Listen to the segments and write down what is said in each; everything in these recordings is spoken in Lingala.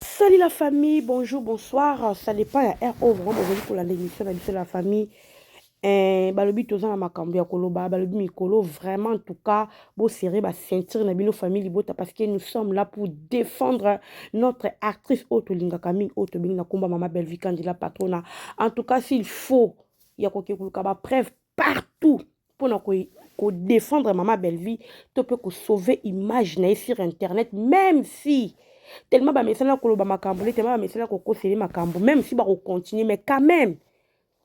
Salut la famille, bonjour, bonsoir. Ça dépend ya heure oyo vraiment bozali kolanda émission na biso la famille. Eh, balobi toza na makambo ya koloba, balobi mikolo vraiment en tout cas, bo serrer ba ceinture na bino famille libota parce que nous sommes là pour défendre notre actrice oyo tolingaka mingi oyo tobengi na komba mama Bellevue Kandila Patrona. En tout cas, s'il faut ya kokekuluka ba preuve partout mpo na kodefendre mama bellevie to mpe kosauve image na ye sur internet même si tellement bamesana koloba makambo nde tellement bamesana kokosele makambo même si bakocontinue mais quand même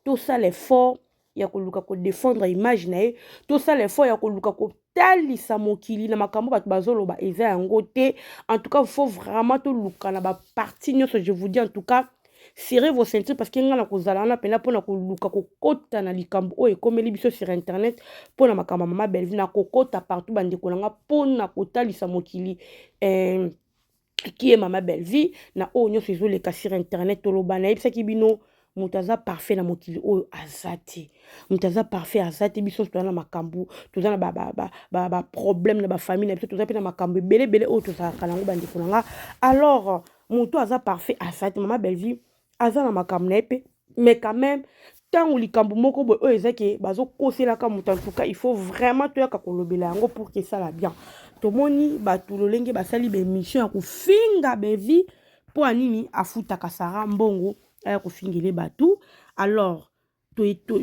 tosala effort ya koluka kodefendre image na ye tosala effort ya koluka kotalisa mokili na makambo bato bazoloba eza yango te en tout cas faut vraiment toluka na baparti nyonso je vous dis en tout cas serrez vos ceintures parce que ngai nakozala wana mpena mpona koluka kokota na likambo oyo ekomeli biso sur internet mpona makambo ya mama bellevue nakokota partout bandeko na ngai mpona kotalisa mokili eh, qui est mama bellevue na oyo nyonso ezoleka sur internet toloba nayebisaki bino moto aza parfait na mokili oyo aza te moto aza parfait aza te biso nyonso toza na makambo toza na baproblème na bafamille na biso toza mpe na makambo ebele ebele oyo tozalaka na yango bandeko na nga alors moto aza parfait asate mama bellevue aza na makambo na ye mpe mais quand même ntango likambo moko boye oyo eza ke bazokoselaka moto antuka il faut vraiment toyaka kolobela yango pour kesala bien tomoni bato lolenge basali baemission ya kofinga bellevue mpo ya nini afutaka sara mbongo aya kofingele bato alors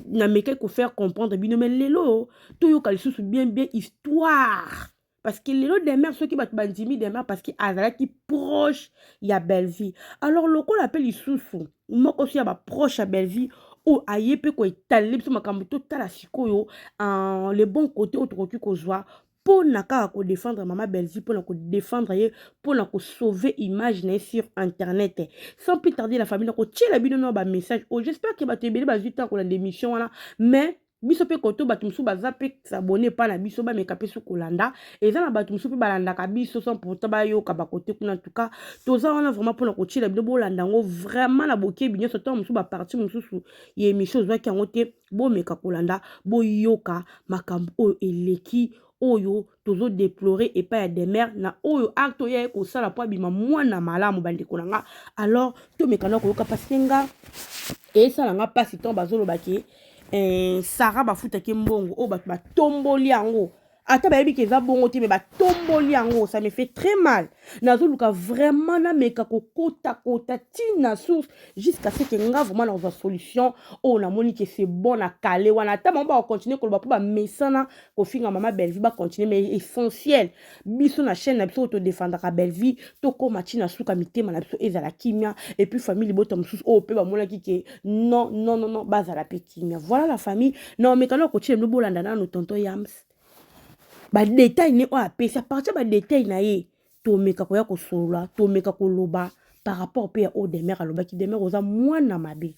namekaki kofaire comprendre bino mais lelo toyoka lisusu bien bien histoire Parce que lelo demeure soki bato bandimi demeure parce que azalaki proche ya bellevie alors lokola mpe lisusu moko so ya baproche ya bellevie oyo aye mpe koetalele biso makambo totala sikoyo uh, le bon côté oyo tokoki kozwa mpo na kaka kodefendre mama bellevie mpo na kodefendre ye mpo na kosauve image na ye sur internet sans plus tarder la famille nakotiela bino na bamessage oyo j'espère ke bato ebele bazwi ntango kolanda émission wana mais biso mpe koto bato mosusu baza mpe sabone epai na biso bameka mpe soki kolanda eza na bato mosusu mpe balandaka biso sans pourtant bayoka bakote kuna tuka toza wana vraiment mpona kotyela bino bolanda yango vraiment na bokebi nyonso ntango mosusu baparti mosusu ya émission ozwaki yango te bomeka kolanda boyoka makambo oyo eleki oyo tozo deplorer epai ya demeure na oyo acte oyo aye kosala mpo abima mwana malamu bandeko na nga alors tomekana koyoka parce que nga esala nga mpasi ntango bazoloba ke eh, sara bafutaki mbongo oyo bato batomboli yango ata bayebi ke eza bongo te me batomboli yango ça me fait très mal nazoluka vraiment nameka kokotakota ti na source jusqu'à ce ke nga vraiment nakozwa solution oyo namoni ke c'est bon na kale wana ata bango bakocontinue koloba mpo bamesana kofinga mama bellevue bacontinue mais essentiel biso na chaîne na biso oyo todefendaka bellevue tokóma ntina suka mitema na biso ezala kimia epuis famille libota mosusu oyo mpe bamonaki ke non non non non bazala mpe kimia voilà la famille na omekano ya kotyela bino bolanda nano tonto yams badetail ne oyo apesi apartir badetail na ye tomeka koya kosolola tomeka koloba par rapport mpe ya oyo demer alobaki demer oza mwana mabe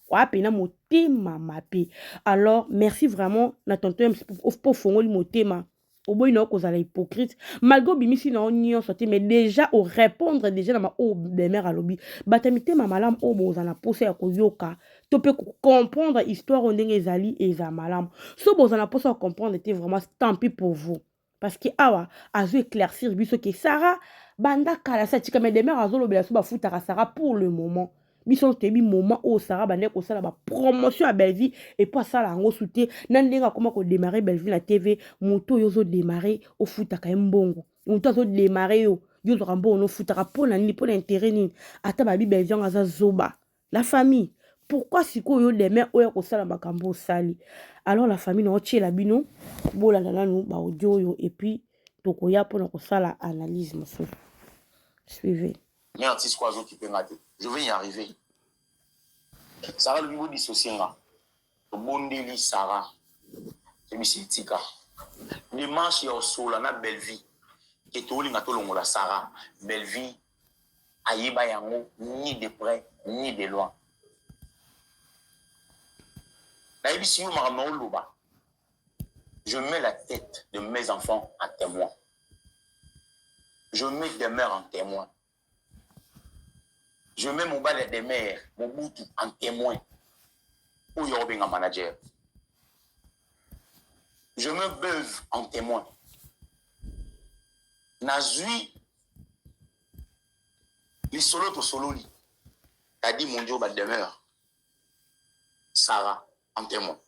wapi na motema mabe alors merci vraiment na tonton mc mpo ofongoli motema oboyi na yo kozala hypocrite malgré obimisi na yo nyonso te mais déjà orépondre déjà na baoyo bemere alobi bato ya mitema malamu oyo boza na mposa ya koyoka to mpe kocomprendre histoire oyo ndenge ezali eza malamu so boza na mposa ya comprendre te vraiment tant pis pour vous parce que awa azo éclaircir biso ke Sarah banda kala sa tika mais demeure azolobela so bafutaka Sarah pour le moment biso nyonso toyebi moment oyo Sarah bandaki kosala bapromotion ya Bellevue epo asala yango su te na ndenge akoma kodemare Bellevue na TV moto oyo ozodemare ofutaka ye mbongo moto azodemare yo yo ozwaka mbongo nofutaka mpo na nini mpo na intere nini ata babi Bellevue yango aza zoba La famille, pourquoi sikoyo yo demain oya kosala makambo osali? Alors la famille na otiela bino bolanda nanu ba audio oyo et puis tokoya pona kosala analyse mosusu. Suivez. Mais artiste quoi azo kipe nga te. Je vais y arriver. Sarah lobi bo dissocier nga. Tobondeli Sarah. Tebisi tika. Démarche ya osola na Bellevue. Ke tolinga tolongola Sarah. Bellevue ayeba yango ni de près ni de loin nayebisi yo makambo naoloba je mets la tête de mes enfants à témoin je mets demeure en témoin je mets mobali ya demeure mobutu en témoin oyo akobenga manager je mets beuve en témoin nazwi lisolo tosololi tadi mondio ba demeure sara en témoin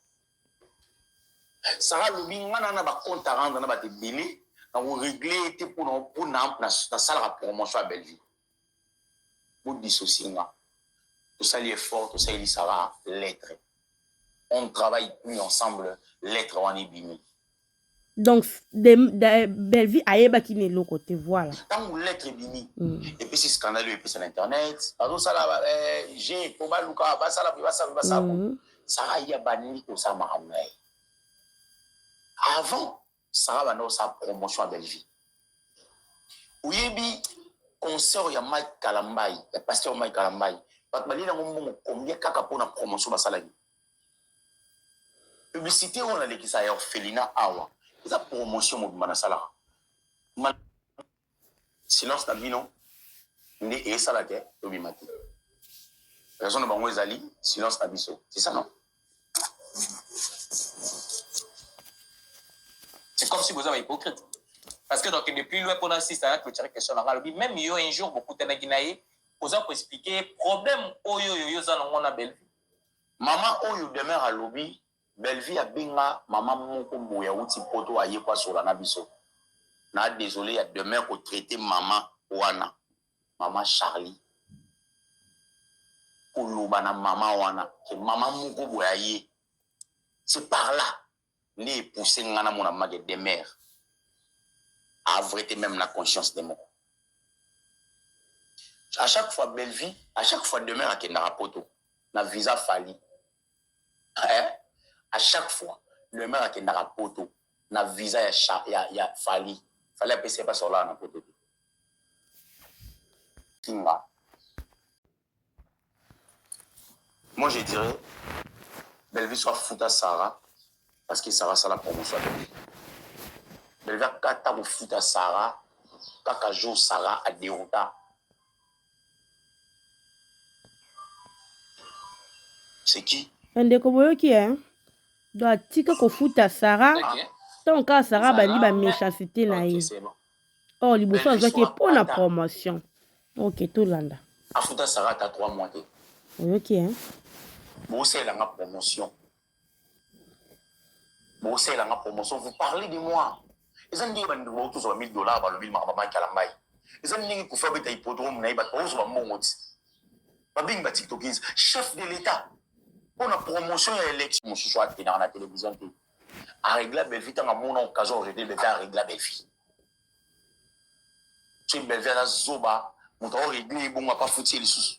sara alobi nga na na bacompte a rendre na bato ebele nakoregle ye te mpona mpona nasalaka promotion ya bellevue bodissocie nga tosali effort tosaleli sara lettre on travaille plus ensemble lettre wana ebimi donc de, de, bellevue ayebaki na eloko te voilà ntango lettre ebimi mm. epesi scandale oyo epesa na internet bazosala eh, je mpo baluka basala mpe basala mpe basala mm. sara ye abandi kosala makambo na ye avant sara banda kosala promotion ya bellevue oyebi concert ya mike kalambai ya pasteur mike kalambai bato balie yango mbongo kombie kaka mpo na promotion basalaki Publicité oyo nalekisa ya orphelina awa eza promotion mobimba nasalaka Ma... silence na bino nde esala te tobima te raison na bango ezali silence na biso c'est ça non c'est comme si boza ba hypocrite parce que donc depuis loin mpona sista ya clôture question nanga alobi même yo un jour bokutanaki na ye oza koexplike problème oyo oyo yo oza nango na bellevue Mama oyo demeure alobi Bellevue abenga mama moko boye awuti poto aye koasola na biso. Na desole ya demeure ko traite mama wana mama Charlie. Koloba na mama wana ke mama moko boye aye. C'est par là nde epousse nga namona mama ke demeure a vrai te meme na conscience de moko à chaque fois bellevie à chaque fois demeure akendaka poto na visa fali eh? à chaque fois demeure akendaka poto na visa ya, cha, ya, ya fali fali apesi ye mpasi olala na poto te kinga Moi, je dirais, Bellevue soit fout à Sarah, parce que Sarah, ça la promotion à Bellevue. Bellevue a kata ko fout à Sarah, kaka jour Sarah a dérouta. C'est qui? Ndeko boyoki hein? Do atika ko fout à Sarah. Okay. Tant kaka Sarah bandi ba méchanceté na ye. Okay, or oh, liboso azwaki ye mpo na promotion ok tolanda afuta sarata 3 mois te oyoki e bosalela nga promotion bosalela nga promotion vous parlez de moi eza ndenge bandeko bauti ozwa 1000 dollars balobi makambo makala mai eza ndenge kufa beta hippodrome na ye bato bakozwa mbongo ti babengi batiktokis chef de l'état mpo na promotion ya election mosusu atenaka na télévision te aregla belvi ntango amona okazo orevie belvi aregla belvi soki belvi aza zoba moto aoregle ye bongo apa futi ye lisusu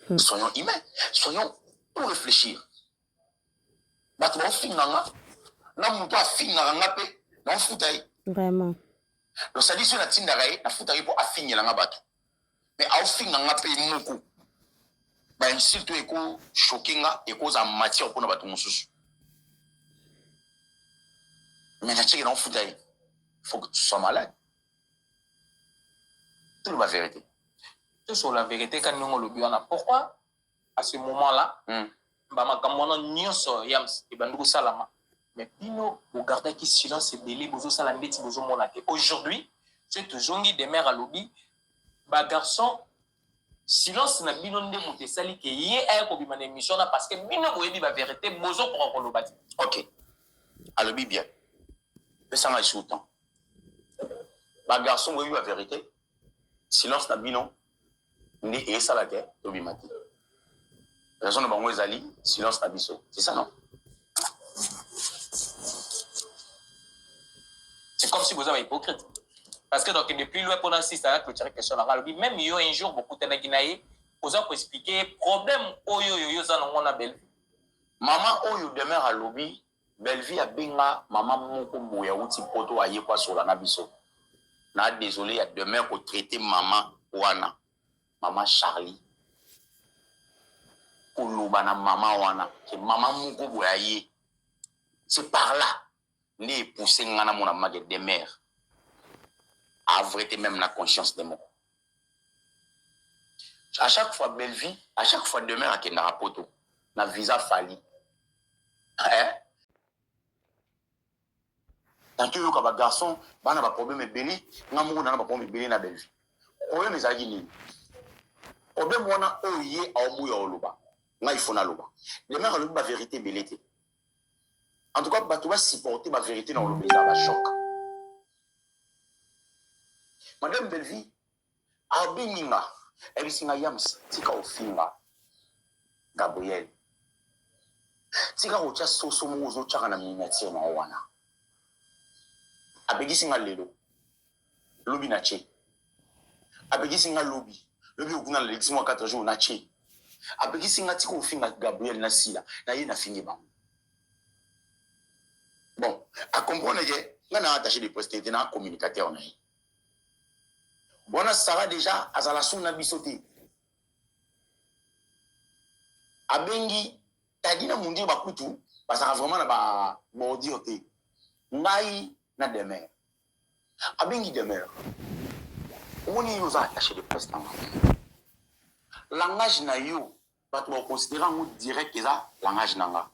hmm. soyons humain soyons pour réfléchir bato baofinga nga na moto afingaka nga mpe naofuta ye vraiment losalisi oyo natindaka ye nafutaka ye mpo afingela nga bato mais aofinga nga mpe moko bainsulte oyo ekochoke nga ekozala matière mpo na bato mosusu mais natieke na ofuta ye faut que tu sois malade toloba verité tosola verité ka ndenge olobi wana pourquoi à ce moment là mm. ba makambo wana nyonso yams ebandi kosalama mais bino bogardaki silence ebele bozosala ndeti bozomona te aujourd'hui ce tozongi demeure alobi bagarçon silence na bino nde moto esali ke ye aya kobima na émission na parce que bino boyebi baverité bozokoka koloba te ok alobi bien pesanga lisusu temps bagarçon boyebi baverité silence na bino nde esala ke tobima te raison na bango ezali silence na biso c'est ça non c'est comme si boza bahypocrite parce que donc de plus loin mpona sista ya clotire question nanga alobi même yo un jour bokutanaki na ye oza koexplike ye problème oyo oyo yo oza nango na belle mama oyo demeure alobi Bellevue abenga mama moko boye awuti poto aye kwasola na biso na desole ya demeure ko traite mama wana mama Charlie koloba na mama wana ke mama moko boye aye c'est par là nde epousse nga namona mage demeure avrete meme na conscience de moko A chaque fois Bellevue, a chaque fois demain akendaka poto na visa Fally. Eh? Tanto yoka ba garçons bana ba problème ebele, nga moko na ba problème ebele na Bellevue. Problème ezalaki nini? Problème wana oyo ye aoboya oloba. Nga il faut naloba. Demain alobi ba vérité ebele te. En tout cas, bato ba supporter ba verité na olobi eza ba choc. Madame Bellevue abimi nga ebisi nga yams tika ofinga Gabriel tika kotya soso moko ozotyaka na miniature na yo wana abegisi nga lelo lobi na ce apekisi nga lobi lobi okuna nalekisi mwa 4 jour na ce apekisi nga tika ofinga gabriel na sila na ye nafingi bango bon acomprendre ke nga na attaché de presse te na communicateur na ye wana sara deja azala su na biso te abengi tadi na mondire bakutu bazalaka vraiment na babordir te ngai na demeure abengi demeure omoni yo oza attaché de presse nanga langage na yo bato bakoconsidere yango direct eza langage na nga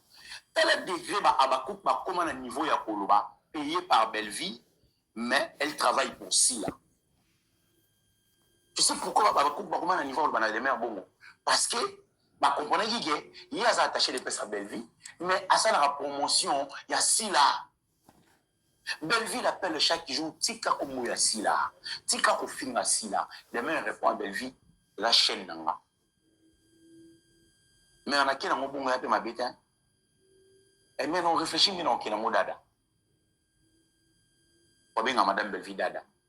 tala degre ba abakouk bakóma na niveau ya koloba payé par bellevie mais elle travaille pour sila tu sais pourquoi ba abakouk bakóma na niveau ya koloba na demeure bongo parce que bakomprenaki ke ye aza attaché de presse ya bellevie mais asalaka promotion ya sila Bellevue l'appelle chaque jour tika kombo ya Sila tika kofinga Sila demain elle répond à Bellevue eza chaîne na nga mais na kena ngo bongo ya pe mabe te hein? et eh, mais non réfléchis mina okena ngo dada wabenga madame Bellevue dada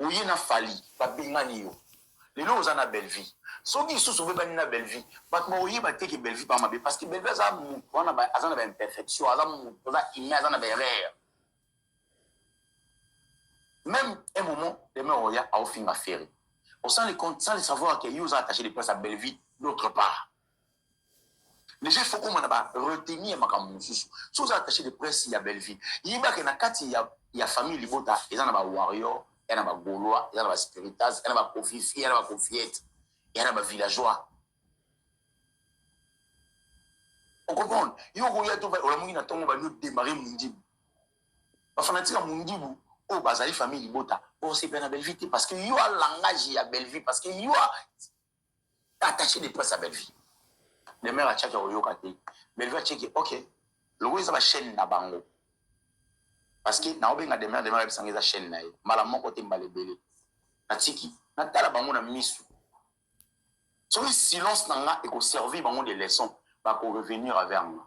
oye na fali babengani yo lelo oza na bellevie soki lisusu obebani na bellevie bato bakoyeba te ke bellevie ba mabe parce que bellevie aza moto wana aza na baimperfection aza moto aza humain aza na baerreur même un moment deme oya aofinga ferre osali compte sans le savoir ke yo oza attaché de place ya bellevie d'autre part deja ifo koma na ba reteni ya makambo mosusu so oza attaché de presse ya bellevie yeba ke na kati ya, ya famille libota eza na ba warrior ya na ba gaulois eza na ba spiritas ya na ba kofifi ya na ba kofiete ya na ba villageois okomprendre yo okoya to olamuki na ntongo bani odemare mondibu bafanatike ya mondibu oyo bazali famille libota bosepela na bellevie te parce que yo a langage ya bellevie parce que yo attaché de presse ya bellevie demeure atiaki akoyoka te bellevie atieki ok lokola eza bachaîne na bango parce que naobenga demeure demeure ayebisanga eza chaîne na ye mbala moko te mbala ebele natiki natala bango na misu soki silence na nga ekoservir bango de leçon bakorevenir vers nga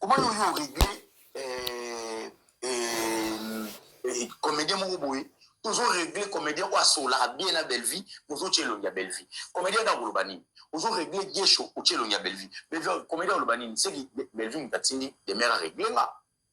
Comment yo régler euh, euh, euh, comédien moko boye ozo régler comédien oyo asololaka bien na bellevie ozotya elongi ya bellevie comédien nde akoloba nini ozo régler gesho otya elongi ya bellevie bellevie comédien akoloba nini seki bellevie moto atindi demere arégler nga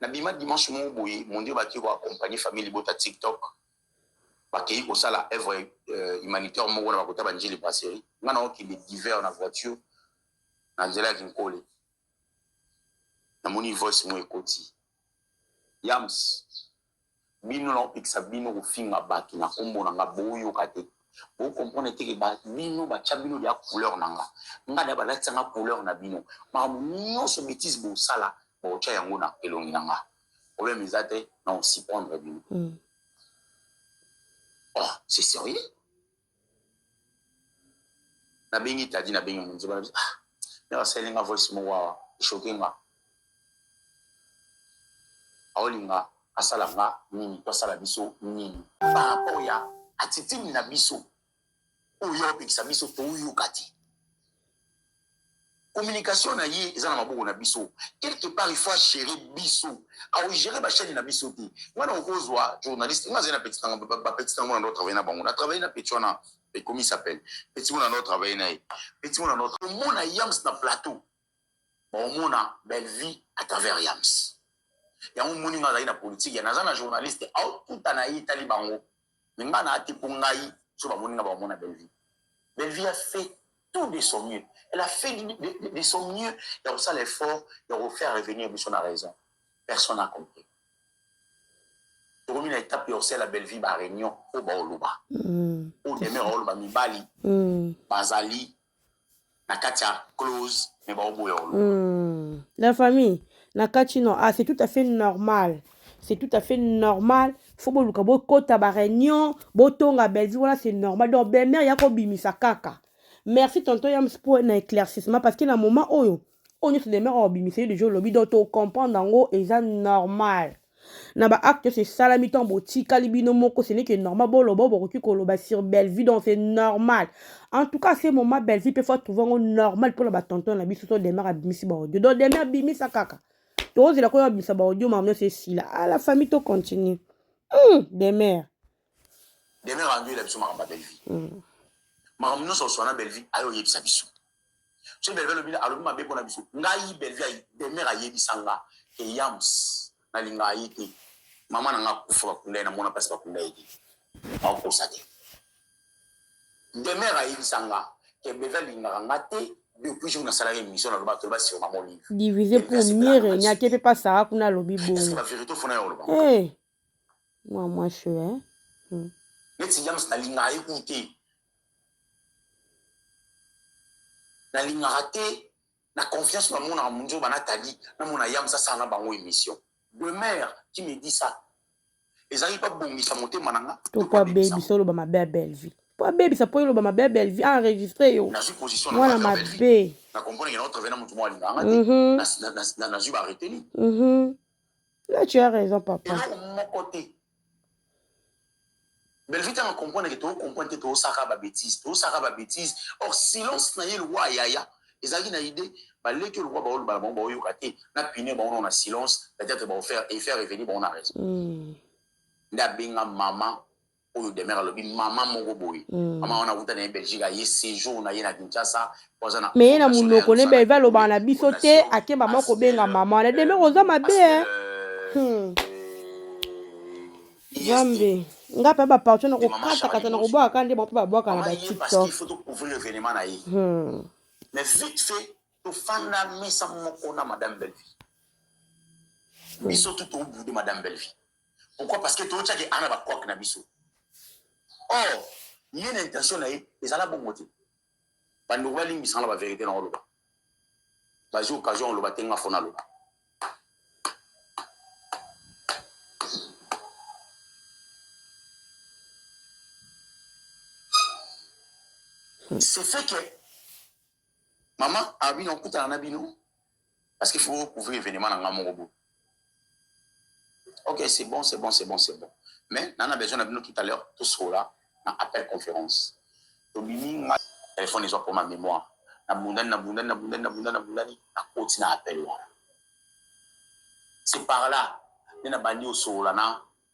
Na bima dimanche moko boye mondele ba ki ko accompagner famille libota tiktok ba keyi ko sala œuvre euh, humanitaire moko na ba kota ba njili brasserie nga na oki le divers na voiture na nzela ya kinkole na moni voice mo ekoti yams Bino nao pekisa bino ko finga batu na kombo na nga bo yoka te. Bo comprendre te ke ba bino ba tia bino deja couleur na nga. Nga deja ba latisa nga couleur na bino. Makambo nionso betise bo sala bako tia yango na elongi na nga. Problème eza te nao surprendre bino. Ohh c'est serieux? nabengi tadi nabengi munzeba na biso ah, mère asaleli nga voice moko awa eshoke nga aolinga asala nga nini to asala biso nini par rapport ya attitude na biso oyo opekisa biso toyoka te communication na ye eza na maboko na biso quelque part il faut agere biso aogere bachaine na biso te wana okozwa journaliste nga azali na petit nanga bapetit nango na ndo travaille na bango na travaille na petit wana ekomi s'appelle petit wana ndo travaille na ye petit wana ndo omona yams na plateau baomona bellevie à travers yams yango moni nga azali na politique ya naza na journaliste aokuta na ye etali bango mais nga na te po ngai so ba moni nga ba mona belle vie belle vie a fait tout de son mieux elle a fait de, de, de, de son mieux ya ko sala effort ya ko faire revenir biso na raison personne n'a compris tokomi na étape ya osala belle vie ba réunion po ba oloba mm. o demeure oloba mibali mm. bazali na kati ya close mais baoboya oloba hmm. la famille na kati no ah c'est tout à fait normal c'est tout à fait normal fo boluka bokota baréunion botonga bellevue wana c'est normal donc bemare ya kobimisa kaka merci tonton yams mpo na éclaircissement parce que na moment oyo oyo nyonso deme oyo obimisa yo deja olobi donc tocomprendre yango eza normal na baacte nyonso esalami ntango botikali bino moko ce n'est que normal boloba oyo bokoki koloba sur bellevue donc c'est normal en tout cas ce moment bellevue mpe fo atrouve yango normal mpona batonton na biso to demer abimisi baaudio donc demer abimisa kaka tozela koyo abimisa baaudio mama nyonso esila a la famille to continue mm, demer demer andoyela biso makambo ya bellevue mm. makambo nyonso oswana bellevue ayo oyebisa biso so belvi alobi alobi mabe mpo na biso ngai belvi demeure ayebisa nga ke yams nalingaka ye te mama na nga akufa bakunda ye namona mpasi bakunda ye te akokosa te demeure ayebisa nga ke belvi alingaka nga te depuis jour nasalaki émission naloba toloba sur mama olive divisé pour mieux régner te mpe pasara kuna alobi bongo ba vérité ofona ya oloba mwa mwasi oyo neti yams nalingaka ye kutu te nalingaka te na confiance na mona munzo ba Nathalie na mona yam sasa na bango émission demeure qui me dit ça ezali ba bongisa motema na nga to pa baby solo ba mabe ya Bellevue po abebisa po eloba mabe ya Bellevue a enregistre yo mwana mabe na comprendre que notre vena mutu mwa linganga te mhm. na na na na zui ba retenu mhm là tu as raison papa eloko moko te Bellevue tanga comprendre que to comprendre te to saka ba bêtises to saka ba bêtises or silence na ye lokola yaya ezalaki na idée ba leki lokola ba olobala bango ba oyoka te na pine bango na silence peut-être ba faire et faire revenir bango na raison mm. nda benga maman oyo demeure alobi mama moko boye mm. mama wana akuta na ye belgique aye séjour na ye na kinshasa Mais na munoko ne belve alobaka na biso te akeba mwa kobenga mama na demeure oza mabe eh. hmm. zambe nga mpe bapartio na kokatakata na kobwakaka nde bape babwaka na batiktok tofanda mesa moko na madame belvi hmm. biso tu tobude madame belvi pourquoi parce que totyaki ana bakwake na biso or ye na intention na ye ezala bongo te Ba ndeko ba limbisa nga na ba verite na oloba. Ba zui occasion ya koloba te nga fona loba. Ce fait que maman Armina okutana na bino parce qu'il faut couvrir événement na nga moko boye ok c'est bon c'est bon c'est bon c'est bon mais nana besoin na bino tout à l'heure tosola na appel conférence tobimi nga telefone ezwa mpo ma mémoire nabundani nabundani nabundani nabundani nabundani nakoti na appel wana c'est par là nde nabandi osolola na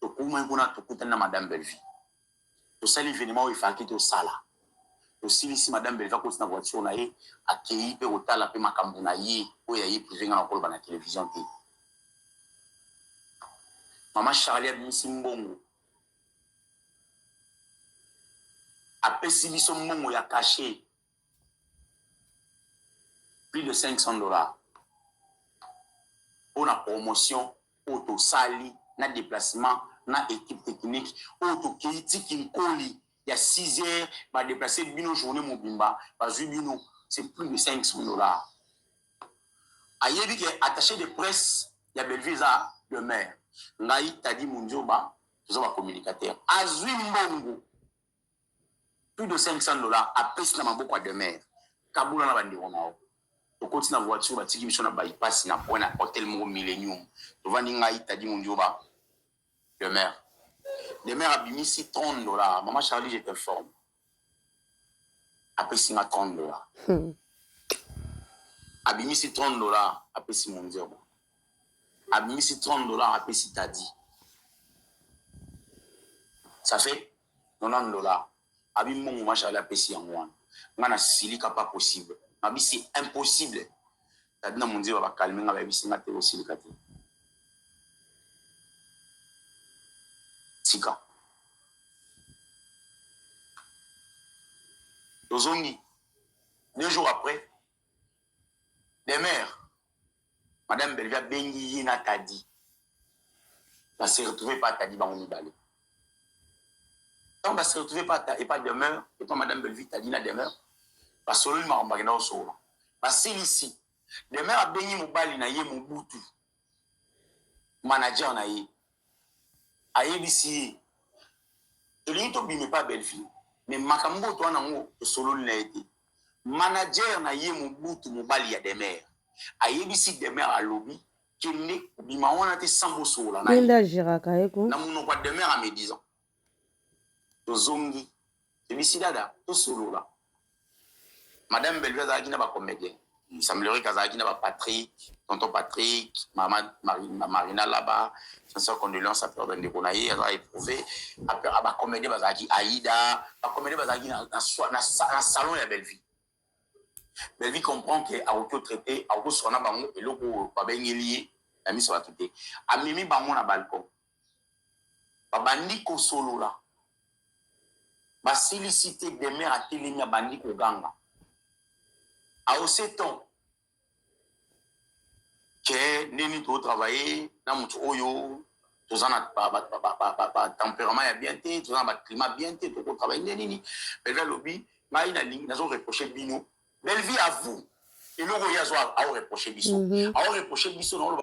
tokomaki kuna tokutani na madame bellevie tosali evenema oyo efalaki tosala tosilisi madame bellevie akoti na voiture na ye akei mpe kotala mpe makambo na ye oyo ya ye prive ngai nakoloba na television te mama charlie abimisi mbongo apesi biso mbongo ya kashe plus de 500 dollars mpo na promotion oyo tosali na déplacement na équipe technique oyo tokei ti kinkoli ya 6 heures badeplace bino journée mobimba bazwi bino c'est plus de 500 dollars ayebi ke attaché de presse ya bellevue eza demeure ngai tadi mondioba toza bacommunicateur azwi mbongo plus de 500 dollars apesi na maboko ya demeure kabola na bandeko na yo tokoti na voiture batiki biso na bypass na point na hotel moko millennium tovandi ngai tadi mondioba demeure demeure abimisi 30 dollars mama charlie je t'informe apesi nga 30 dollars hmm. abimisi 30 dollars apesi mondioba abimisi 30 dollars apesi tadi ça fait 90 dollars abi mbongo ma charlie apesi yango wana nga na silika pas possible nabi c'est impossible tadi na monzeba ba calme nga bayebisi nga te osilika te tika tozongi deux jours après Demeure, Madame Bellevue abengi ye na Tadi. Ba se retrouver pa Tadi bango mibale. Ntango ba se retrouver pa et pa Demeure et pa Madame Bellevue Tadi na Demeure basololi makambo bakenda kosolola. Basilisi. Demeure abengi mobali na ye Mobutu. manager na ye ayebisi ye tolingi tobima epa bellevue me makambo oyo toa nango tosololi na ye te manager na ye mobutu mobali ya demer ayebisi demer alobi kende kobima wana te sans bosolola na ye na monoko ya demer ya medisant tozongi ebisi dada tosolola madame bellevue azalaki na bacomédien il semblerait que azalaki na bapatrick tonton patrick mama marina laba sincère condolence à père bandeko na ye aza éprouvé bacomédien bazalaki aïda bacomédien bazalaki na salon ya bellevue bellevue comprend ke akoki otraite akoki osoka na bango eloko oyo babengeli ye na miso bato te amemi bango na balcon Babandi kosolola. Basilisi te, Demeure atelemi abandi koganga. Aoseton ke ndenge nini to travailler na moto oyo toza na batemperament ya bien te toza na baclimat bien te toko travaille nde nini bellevie alobi ngai nalingi nazo reproche bino bellevie à vous eloko ye azo aoreproche biso mhm. aoreproche biso naoloba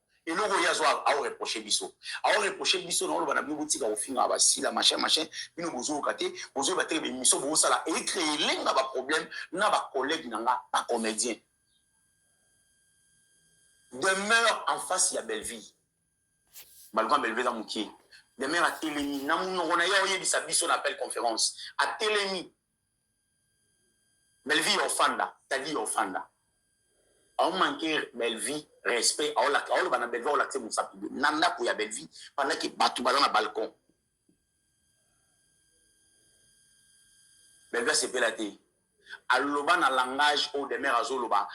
eloko ye azo ao reproche biso ao reproche biso na oloba na bino botika kofinga basila machin machin bino bozoyoka te bozoyeba te bemiso bosala ecree elenga baproblème na bacollègue na nga bacomédien demeure en face ya bellevie malgrand bellevie eza mokie demeure atelemi na monoko na ye oyebisa biso na appel conférence atelemi Bellevue yo ofanda, Taddy yo ofanda. Au manquer Bellevue respect, au lak, au bana Bellevue au lak se musapi de nanda ko ya Bellevue pendant que batu bala na balcon. Bellevue sepela te. Aloba na langage au demeure azoloba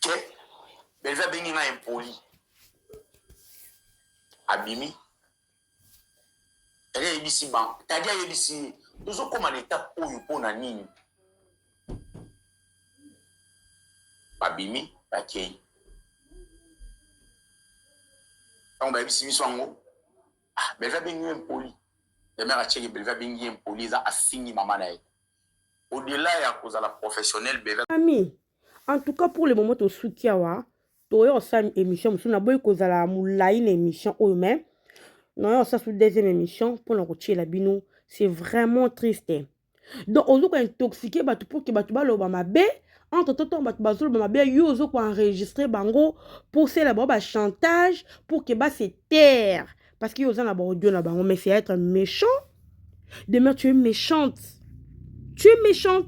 te belvi abengi nga impoli abimi tadi ayebisi bango tadi ayebisi ye tozokóma na etape oyo mpo na nini babimi bakei ntango bayebisi biso yango ah, belvi abengi yo impoli demere acheke belvi abengi ye impoli eza afingi mama na ye au-delà ya kozala professionnel beve ami en tout cas pour le moment tosuki awa toye osala émission mosusu naboyi kozala molai na émission oyo oh, mais naye osala su deuxième émission mpona kotyela bino c'est vraiment triste donc ozo kointoxique bato mpo ke bato baloba mabe entre temps ntango bato bazoloba mabe yo ozo koenregistre bango mpo osala bango bachantage mpo ke base taire parce que yo oza na ba audio na bango mais c'est être méchant demeure tu es méchante tu es méchante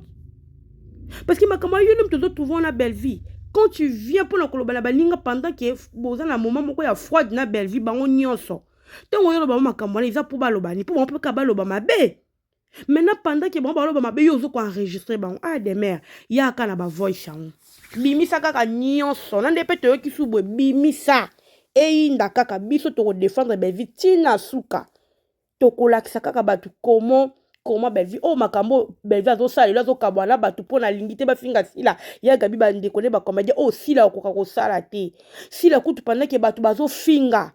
parce que makambo yo nomi tozo trouve wana bellevie quand tu viens mpo na koloba na baninga pendant ke boza na moment moko ya froide na bellevie bango nyonso ntango oyoloba bango makambo wana eza mpo balobani mpo bango mpe kaka baloba mabe maintenant pendant ke bango baloba mabe yo ozo koenregistre bango a ah, demeure yaka na bavoice yango bimisa kaka nyonso na nde mpe toyoki su boye bimisa eyinda kaka biso tokodefendre belvi ntina suka tokolakisa kaka bato komo koma belvi oyo oh, makambo oyo belvi azosala lelo azokabwa na bato mpo nalingi te bafinga sila ya gabi bandeko nde bakomedia oyo oh, sila okoka kosala te sila kutu pandake bato bazofinga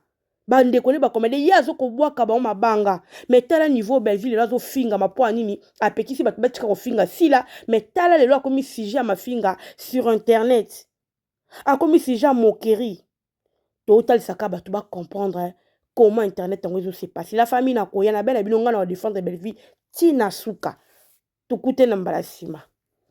bandeko ne bakomede ye azokobwaka bango mabanga me tala niveau belvi lelo azofingama mpo ya nini apekisi bato batika kofinga sila me tala lelo akomi sujet ya mafinga sur internet akomi sujet ya moquerie totalisaka bato bacomprendre comment internet yango ezosepase la famille nakoya na bela bino ngai na badefendre belvi ti na suka tokute na mbala nsima